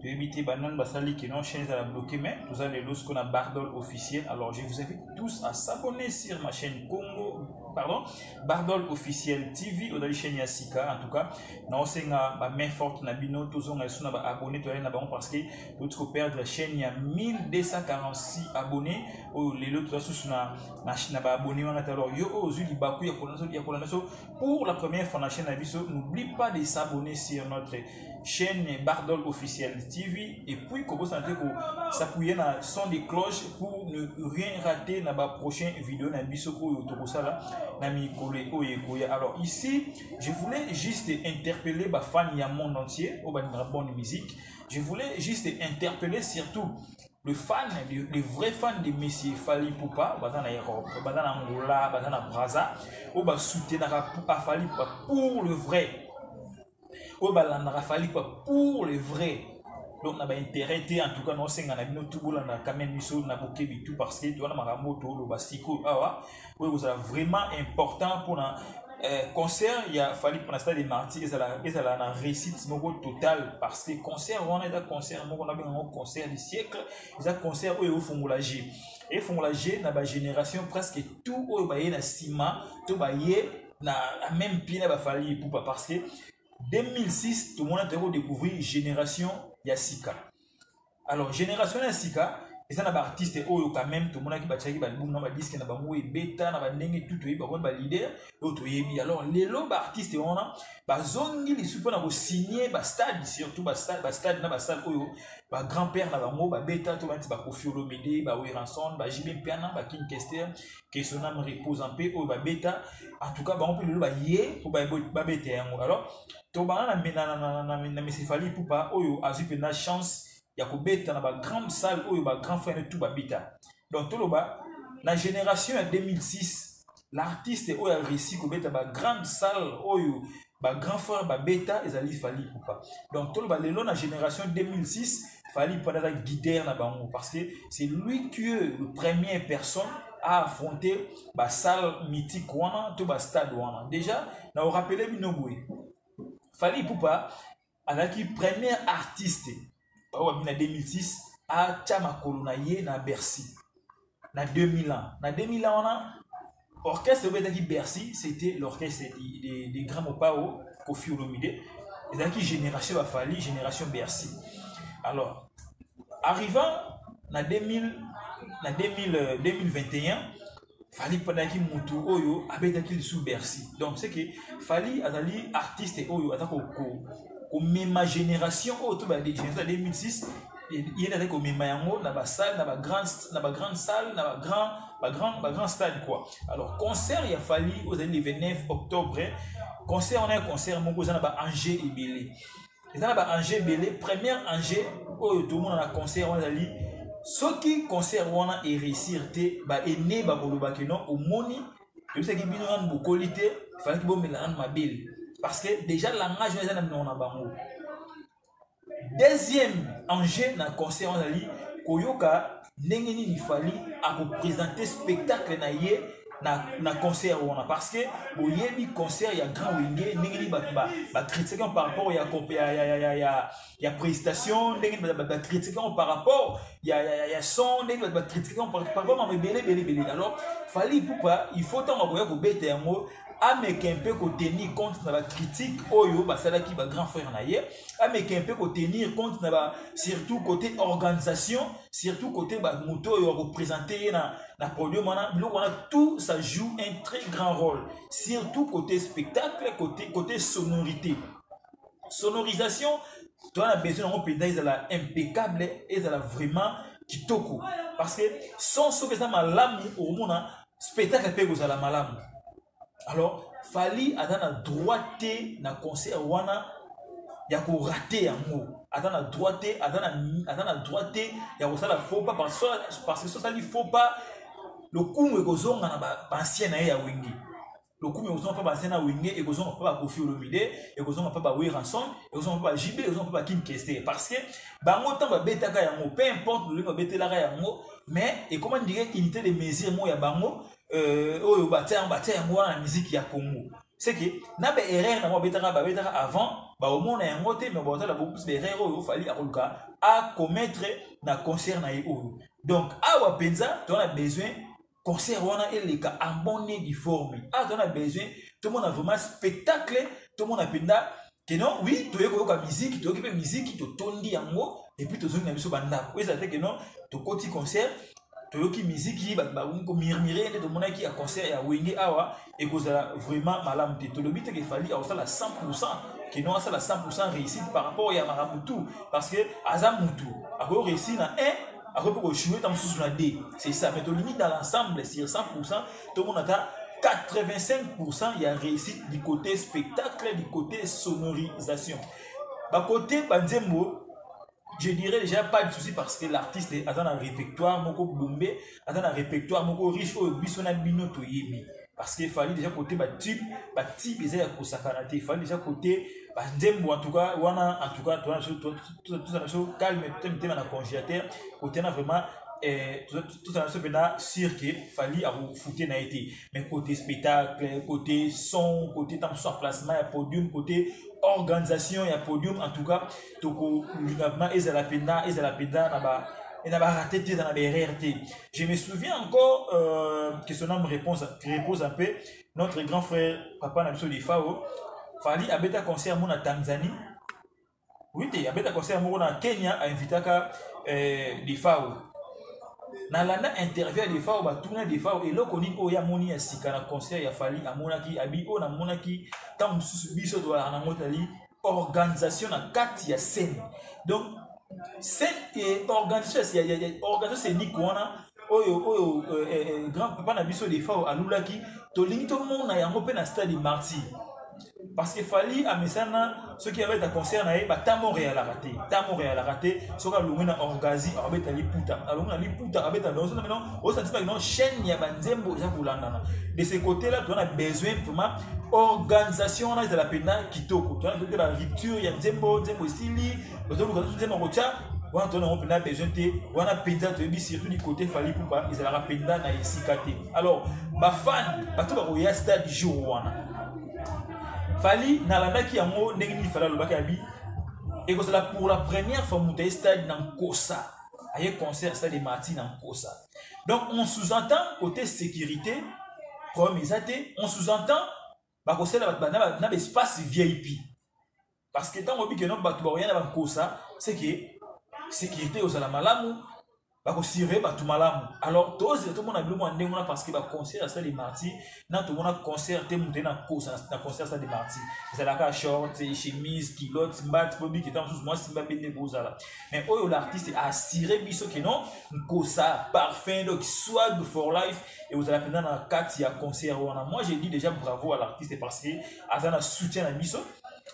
toyebi te banani basali que non chaîne ezala bloqué mais toza lelo siko na bardol officiel alors je vous invite tous à s'abonner sur ma chaîne congo pardon bardol officiel tv ozali chaîne ya sika en tout cas naosenga bamain forte na bino tozonga lisusu na baabonné toyali na bango parce que touti koperdre chaîne ya 1246 abonné oyo lelo toza susu na, na, na baabonné wana te alors yo oyo ozwi libaku ya kolanda so pour la première fois na chaîne na biso n'oublie pas de s'abonner sur notre chaîne bardol officiel tv et puis kobosana te kosapuye na son de cloche pour ne rien rater na baprochain video na biso oyo tokosala na mikolo oyo ekoya alors ici je voulais juste interpeller bafani ya monde entier oyo balingaka bonne musique je voulais juste interpeller surtout le fan le, le vrai fan de messi fali pupa baza na europe baza na angola baza na braza oyo basoutenaka pupa fali pupa pour le vrai oyo balandaka fali pupa pour le vrai donc na baintérêt te en tout cas naosenga na bino tu bolandaka quand même biso na bokebi tout parce que towana makambo toloba sikoyo awa ah, oyo ekozala vraiment important mpona eh, concert ya fali mpona stade de marti ezala, ezala na réussite moko total parce que concert wana eza concert moko nabenga yango concert du siècle eza concert oyo eofungola je efungola je na bagénération presque tout oyo baye na nsima to baye na même pied na bafali epupa parce que 2006 tomonaki toyaki kodécouvrir génération ya sika alors génération ya sika eza na baartiste oyo quand même tomonaki batiaki balbum na badiske na bango ebeta na bandenge tu toyebi bakoni balider oyo toyebi alors lelo baartiste wana bazongi lisusu mpona kosigne bastade surtout bastade na basale oyo bagrand père na bango babeta to banti bakofi olomide baweranson bajibe mpiana bakin kester kesonam repose mpe oyo babeta en tout cas bango mpe lelo baye mpo babeta yango alors tobanda na, na, na, na, na, na mesefali pupa oyo azwi mpenza chance ya kobeta na bagrande salle oyo bagrand frère ne tout babeta donc toloba na génération ya 2006 l'artiste oyo areussi kobeta bagrande salle oyo bagrand frère babeta ezali fali pupa donc toloba lelo na génération 2006 fali pupa aza guider na bango parce que c'est lui qui est le premier personne a affronter basalle mythique wana to bastade wana déjà na orapele bino boye fali ipupa azalaki premier artiste oyo abimi na 2006 atya makolo na ye na bercy na 2000 ans na 2000 ans wana orchestre oyo ezalaki bercy c'était l'orchestre de, de, de grand mopao kofi olomide ezalaki génération bafali génération bercy alors arrivant na 2000 na 2000, 2021 euh, fali pendaki mutu oyo abetaki lisu bercy donc c'est que fali azali artiste oyo aza komema génération oyo to ba génération 2006 ye nde azali komema yango na basalle na bagrande na bagrande salle na bagrand bagrand bagrand stade quoi alors concert ya fali ozali le 29 octobre concert wana ya concert moko eza na baange ebele eza na ba enjeu ebele première enjeu oyo tomona na concert wana ezali soki concert wana eréussir te baene bakoloba ke non omoni toyebisaki bino nanu bokoli te falaki bomela nanu mabele parce que déjà langage wana eza na minoko na bango deuxième enjeu na concert wana ezali koyoka ndenge nini fali akopresente spectacle na ye na, na concert wana parce que boyebi concert ya grand wenge ndenge nini bato bakritikaki yango par rapport ya, ya, ya, ya, ya, ya prestation ndenge nini bakritikaki yango par rapport ya, ya, ya, ya son ndenge nini bakritikaki yango par rapport mama ebele ebele ebele alors fali ipupa il faut ntango akoya kobeta yango ameka mpe kotenir compte na bacritique oyo basalaki bagrand frère na ye ameka mpe kotenir compte na ba surtout côté organisation surtout côté bamoto oyo akopresente ye na, na podium wana biloko wana tout ça joue un très grand rôle surtout côté spectacle côté, côté sonorité sonorisation toza na besoin yango mpenza ezala impeccable ezala vraiment kitoko parce que son soki eza malamu okomona spectacle mpe ekozala malamu alors fali aza na droit te na concert wana ya korate yango aza na droit te aza na droit te ya kosala faux pas parce que so asali faux pas lokumu ekozonga na baancien na ye ya wenge lokumu ekozonga mpe bazena wenge ekozonga mpe bakofi olomide ekozonga mpe baweranson ekozonga mpe bajb ekozonga mpe bakim kester parce que bango ntango babetaka yango peu importe lolenge babetelaka yango mais ekoma ndire unité de mesure moko ya bango euh, oyo batya yango batya yango wana na miziki ya congo seke na baerreur nango babetaka babetaka avant baomona yango te mais baotala bokuse baerreur oyo ofali akoluka acommettre na concert na ye oyo donc awa mpenza toza na besoin concert wana eleka en bonne et due forme awa ah, toza na besoin tomona vraiment spectacle tomona mpenza ke non oui toye koyoka miziki toyoki mpe miziki totondi yango epuis tozongi na biso bandako ezala te ke non tokoti concert toyoki miziki bato bakomi komurmire nde tomonaki ya concert ya wenge awa ekozala vraiment malamu te tolobi te kefali akosala 100 kino asala 100 réussite par rapport ya makambo tout parce que aza mutu akoki réussir na 1 akoki mpe kojoue ntango mosusu na 2 c'est ça mais tolingi dans l'ensemble sur 100 tomona ata 85% ya réussite du côté spectacle du côté sonorisation bakote banzembo je dirais déjà pas de souci parce que l'artiste aza na répertoire moko bombe aza na répertoire moko riche oyo biso na bino toyebi parce que fali déjà côté batube batube eza ya kosakana te fali déjà côté banzembo en tout cas wana en tout cas toza na biso calme te mitema na congélateur côté na vraiment eh, tozala biso mpenza sur ke fali akofute na ye te mais côté spectacle côté son côté ntango mosusu emplacement ya podium côté organisation ya podium en tout cas tokolinga ma ezala mpenza ezala mpenza na ba na barate te eza na baerreur te je me souviens encore euh, que son âme réponse repose un peu notre grand frère papa na biso defao fali abeta concert yango na tanzanie oui te abeta concert moko na kenya ainvitaka euh, defao nalanda interview ya defao batuna defao eloko nini oyo amoni ya sika na concert ya fali amonaki abi oyo namonaki ntango mosusu biso tozalaka nango tali organisation na kati ya seni donc eh, organisation seniko wana oyo oyo eh, eh, eh, grand papa na biso defao alulaki tolingi tomona yango mpe na stade marti parce que fali amesana soki abeta concert na ye batamo realaka te tamo realaka te soki alongwe na orgasi akabeta liputa alongwe na liputa akabeta lonso namino osantima kino chaîne ya banzembo eza kolandana de ce côté là toza na besoin vraiment organisation wana ezala mpena kitoko toyanape ba rupture ya nzembo nzembo esili bazoluka susu nzembo kotya wana toyona yango mpenza besoin te wana mpenza toyebi surtout du côté fali pupa ezalaka mpenza na esika te alors bafani bato bakoya stade jour wana fali nalandaki yango ndenge nini fali alobaki abi ekozala pour la première fois moto aye stade na nkosa aye concert stade marti na nkosa donc on sous-entend côté sécurité problème eza te on sous-entend bakosala bato bana na baespace vip parce que ntango obike no bato bakoya na bankosa seke sécurité ekozala malamu bakosurveille bato malamu alors tozela tomona biloko ya ndenge wana parce que baconseil asali marti na tomona concert te moto ye na kosa na concert sa de marti ezalaka short chemise kilote mbati mpo biki ntango mosusu mwasi mbabe nde ekozala mais oyo l'artiste assure biso ke non nkosa parfum donc swag for life ekozala mpenza na kati ya concert wana moi je dis déjà bravo à l'artiste parce que aza na soutien na biso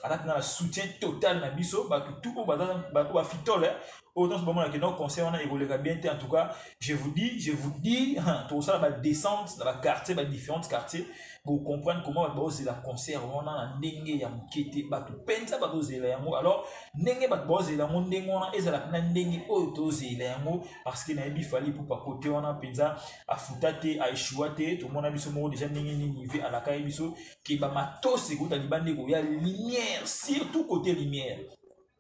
aza mpenza na soutien total na biso bato tu oyo bato bafitole oyo nyonso bamona ke donc conseil wana ekoleka bien te en tout cas je vous dis je vous dis hein, tokosala badescente na baquartier badifférentes quartier bocomprendre comment bato baozela concert wana na ndenge ya moke te bato mpenza bazozela yango alors ndenge bato baozela yango ndenge wana ezala mpena ndenge oyo tozela yango parce que nayebi fali pupa kote wana mpenza afuta te aeshua te tomona biso moko deja ndenge nini ve alakaki biso ke bamatos ekota libanda ekoya lumière surtout kote lumière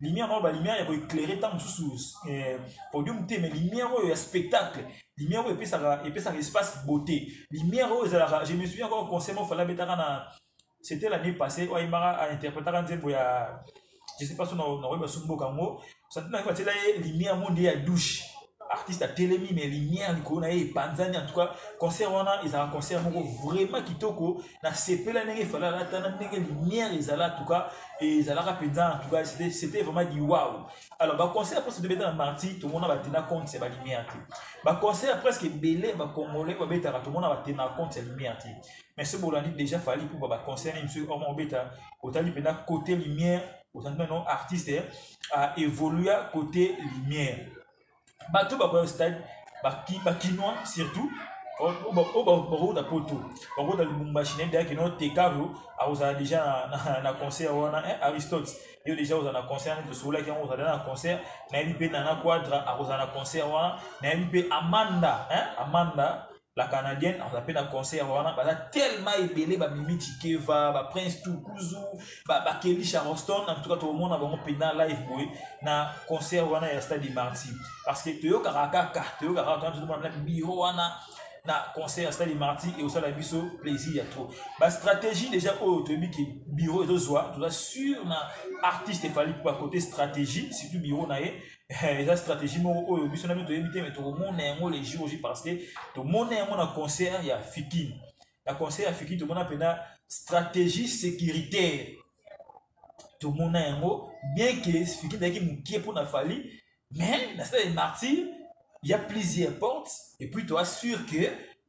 lumière na oyo balumière ya koeclaire ntango mosusu eh, podium te mais lumière oyo ya spectacle lumière oyo epesaka epesaka espace beauté lumière oyo ezalaka je me souviens encore conseil moko fala abetaka na c'était l'année passée oyo ayembaka ainterpretaka nzembo ya je sais pas so nakoyeba so mboka yango santina nayeba atyela ye lumière yango nde ya douche artiste atelemi mais lumière likolo na ye epanzani en tout cas concert wana ezala concert moko vraiment kitoko na sepela ndenge efali alata na ndenge lumière ezala en tout cas ezalaka mpenza en tout cas c'était vraiment du wow alors baconcert mpo tobeta na marti tomona batena compte ya balumière te baconcert presque ebele bacongolais babetaka tomona batena compte ya lumière te mais soki bolandi déjà fali mpo baconcert nini soki omobeta otali mpenza côté lumière ozali nano artiste eh, a évolua côté lumière bato bakoya stade bakinois surtout oyo oh, oh, oh, bakokota poto bakokota lubumbashi nayebi dayaki no tekario akozala déjà na concert wana eh, aristote yo déjà ozala na concert nani tosololaki yango ozala na concert nayebi mpe nana quadra akozala na concert wana nayebi mpe amanda amanda la canadienne aza mpe na concert wana baza tellement ebele bamimi chikeva baprince tukuzu bakeli charleston en tout cas tokomona bango mpenza live boye na concert wana ya stade marti parce que toyokaka kaka toyokaka kaka tozomona na biro wana na concert ya stade marti ekosala biso plaisir ya trop bastratégie déjà oyo toyebi ke biro ezozwa toza sur na artiste efali mpo bakote stratégie surtout biro na ye Eh, eza stratégie moko oyo biso na biso toyebi te me tokomona yango le jour j parce que tomona yango na concert ya fikin na concert ya fikin tomona mpena stratégie sécuritaire tomona yango bien ke fikin ezalaki mokie mpo na fali mais na stade de martyr il y a plusieurs portes et puis toi sûr que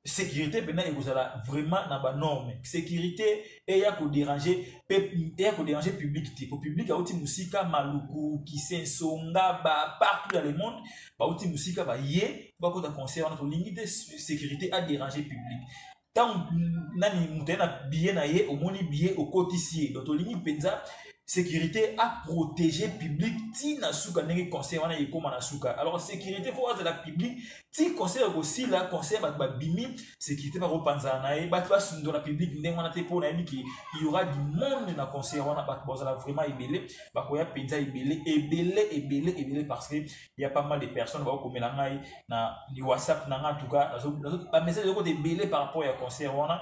sécurité mpenza ekozala vraiment na banorme sécurité eya koderange mpe eya koderange public te po public auti mosika maluku kisenso ngaba partout dans le monde bauti mosika baye bakota conseil wana tolingi te sécurité aderange public ntango nani moto aye na biye na ye omoni biye okotisi ye donc tolingi mpenza sécurité a protégé public ti na suka ndenge conseil wana ekoma na suka alors sécurité fo azala public ti conseil ya kosila conseil bato babimi sécurité bakopanzana na ye bato basundo na public ndenge wana te mpo nayebi ke yaura du monde na conseil wana bato bazala vraiment ebele bakoya mpenza ebele ebele ebele ebele parce que ya pas mal de personnes bakokomela ngai na whatsapp na ngai en tout cas bamessage ezokota ebele par rapport ya conseil wana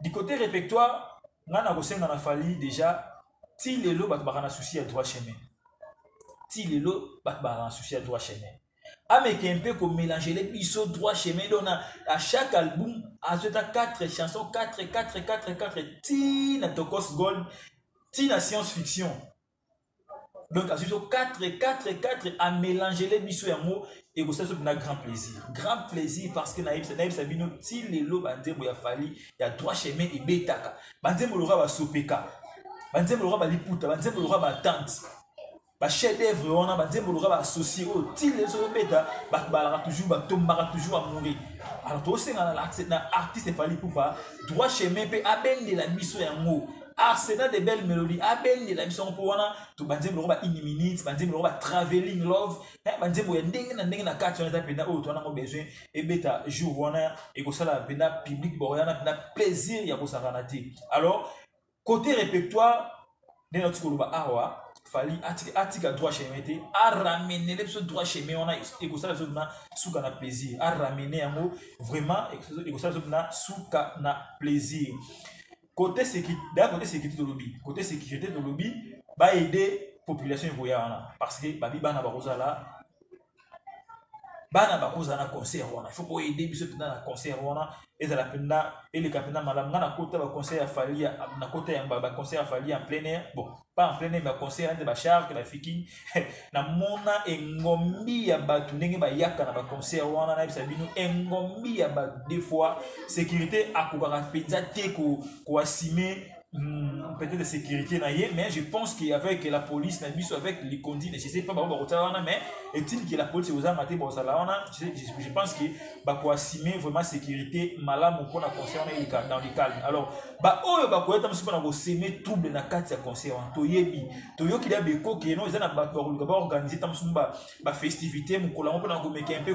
du côté répertoire nga nakosenga na fali déjà ti lelo bato baka na souci ya droit chemin ti lelo bato baka na souci ya droit chemin ameke mpe komelangele biso droit chemin donc na à chaque album azweta 4 chanson 4 4 4 4 ti na tokos gold ti na science fiction donc azwi biso 4 4 4 amélangele biso yango ekosala biso mpena grand plaisir grand plaisir parce que nayebisa nayebisa bino ti lelo banzembo ya fali ya droit chemin ebetaka banzembo loka basopeka banzembo loka baliputa banzembo loka batante bachef d'œuvre wana banzembo loka baassocie oyo oh, ti lelo soki obeta babalaka toujours batombaka toujours amouri alors tosenga na artiste fali pupa droit chemin mpe abendela biso yango arsenal de belle melodie abendela biso yango mpo wana to banzembo longo ba une minute banzembo longo ba traveling love eh, banzembo ya ndenge na ndenge na kati wana eza mpenza oyo towana yango besoin ebeta jour wana ekosala mpenza public bakoyana mpenza plaisir ya kosakana te alors côté répertoire ndenge nauti koloba awa fali atika, atika droit chemin te aramenele biso droit chemin wana ekosala biso mpena suka na plaisir aramene yango vraiment ekosala biso mpena suka na plaisir Côté sécurité, d'ailleurs côté sécurité de lobby, côté sécurité de lobby, va aider population ekoya wana parce que babi bana bakozala bana bakoza na concert wana faut koyede biso mpenza na concert wana ezala mpenza eleka mpenza malamu nga nakota baconcert ya fali nakota ya baconcert ya fali en plein air bon pas en plein air baconcert nde bacharge bafiki namona engombi ya bato ndenge bayaka na baconcert wana nayebisa bino engombi ya bato des fois sécurité akokaka mpenza te koasime Hmm, peut-être de sécurité na ye mais je pense qu'avec la police na biso avec les conduits je sais pas bango bakotala wana mais est-il que la police ekozanga te bozala wana je pense que bakoasime vraiment sécurité malamu mpona concert wana eleka dans le calme alors baoyo bakoyata biso mpona koseme trouble na kati ya concert wana toyebi toyoki deya bekoki yeno eza na bato bakoluka baorganize ntango mosusu bafestivité mokolo yango mpona komeka mpe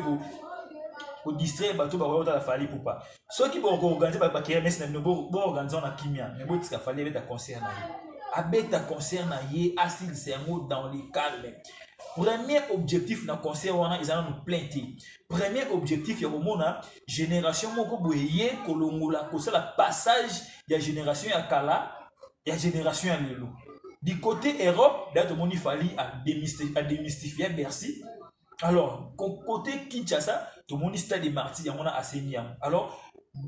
kodistraire bato bakoya kotala fali pupa soki bokoorganize bakermese na bino boorganize wana kimia me botika fali abeta concert na ye abeta concert na ye asilisa yango dans le calme premier objectif na concert wana eza nanu plein te premier objectif ya komona génération moko boye ye kolongola kosala passage ya génération ya kala ya génération ya lelo du côté europe da tomoni fali ademystifia bercy alors côté kinshasa tomoni stade de marti yango na asengi yango alors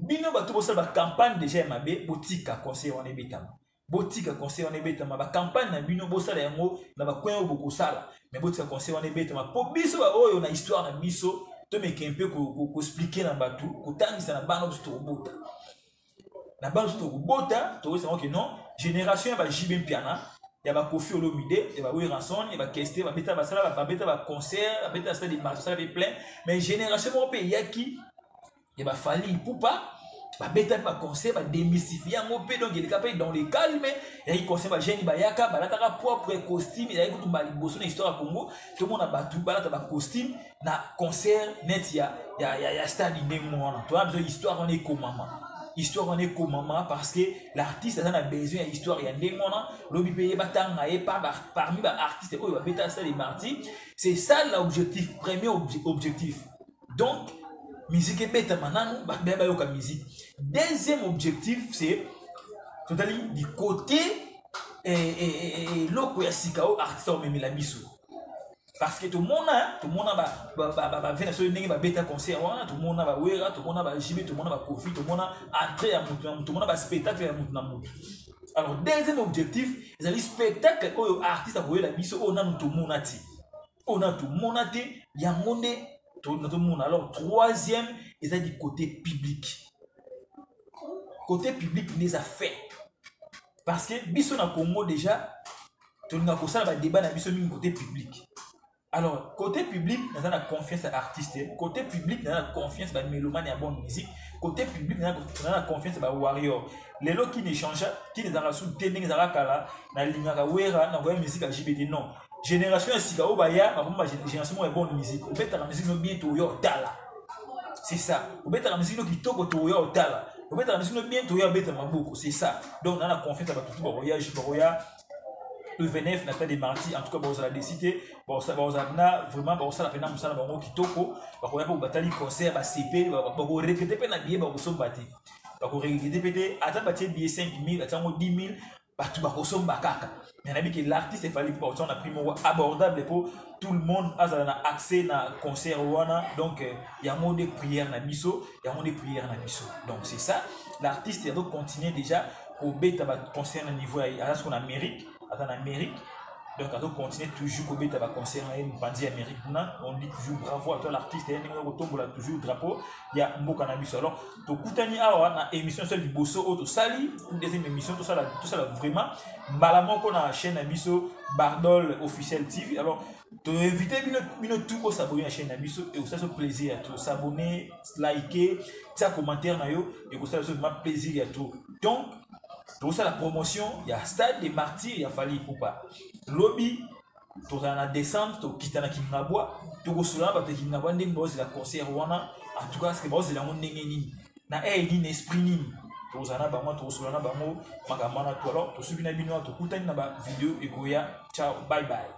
bino bato bosala bacampagne déjà ya mabe botika conseil wana ebetama botika conseil wana ebetama bacampagne na bino bosala yango na bakoin oyo bokosala mais botika conseil wana ebetama mpo biso baoyo na histoire na biso tomeke mpe koexplike na bato kotangisa na bana biso tokobota na bana biso tokobota tokosango ke non génération ya bajibe mpiana ya bakofi olomide ya baweranson ya bakeste babeta basala babeta baconcert babeta basala demarche basala pe plein mais génération moko mpe eyaki ya ba fally ipupa babetaki baconcert bademystifie yango mpe donc eleka mpe dans le calme eyaki concert bagene bayaka balataka propre costume ezalaki kutu baliboso na histoire ya congo tomona bato balata bacostume na concert net ya, ya, ya, ya stade ndenge wana toya biso histoire wana ekomama histoire wana ekomama parce que l'artiste aza na besoin ya histoire ya ndenge wana lobi mpe ye batanga ye parmi baartiste oyo babeta stade marti c'est ça l'objectif premier objectif donc musique ebetama nanu bato baya bayoka musique deuxième objectif c'est totali du côté eh, eh, eh, eloko ya sika oyo artiste omemela biso parce que tomona tomona bave na soki ndenge babeta concert wana tomona bawera tomona bajibe tomona bakofi tomona entrée ya motu na motu tomona baspectacle ya motu na motu alors deuxième objectif ezali spectacle oyo artiste akoyela biso oyo nanu tomona ti oyo na tomona te yango nde nazomona alors troisième eza du côté public côté public nde eza fait parce que biso na congo déjà tolinga kosala badébat na biso mingi côté public alors côté public naza na confiance ya artiste côté public naza na confiance bamélomane ya bonne musique côté public naza na confiance ya bawarrior lelo qui ne changea qui ne ezalaka su te ndenge ezalaka kala nalingaka wera nakoya musique ya jbt non génération ya sika oyo baya bakomi ba génération moko ya bonne musique obetaka musique no bien toya otala c'est ça obetaka musique no kitoko toya otala obetaka musique no bien toya obeta maboko c'est ça donc na na confiance ya bato bakoya ju bakoya le 29 na stade de marti en tout cas bakozala desite bakozala mpena vraiment bakosala mpena mosala bango kitoko bakoya mpe batali concert basepe bakorekete mpe na biye bakosomba te bakorekete mpe te ata batie biye 5000 atiango 10 000 bato bakosomba kaka mais nayebi ke l'artiste efali mpo bakotia na prix moko abordable mpo tout le monde azala na accès na concert wana donc euh, yango nde prière na biso yango nde prière na biso donc c'est ça l'artiste azo continuer déjà kobeta baconcert na niveau ya aza soko na amérique aza na amérique donc azo continuer toujours kobeta baconcert na ye mopanzi ya amérique kuna on dit toujours bravo à toi l'artiste ye ndenge okotombola toujours drapeau ya mboka na biso alors tokutani awa na émission so liboso oyo tosali deuxième émission tosala tosala vraiment mbala moko na chaîne na biso bardol officiel tv alors toinvite bino bino tout osabone na chaîne na biso ekosala so plaisir ya trop sabone like tia commentaire na yo ekosala so vraiment plaisir ya trop donc tokosala promotion ya stade de martyr ya fali ipupa lobi tozala na décembre tokita na kingabwa tokosola na bato ya kingabwa ndenge baozela concert wana en tout cas ce que baozela yango ndenge nini na aire nini esprit nini tozala na bango tokosola na bango makambo wana to alors tosuki na bino tokutani na bavideo ekoya ciao bye bye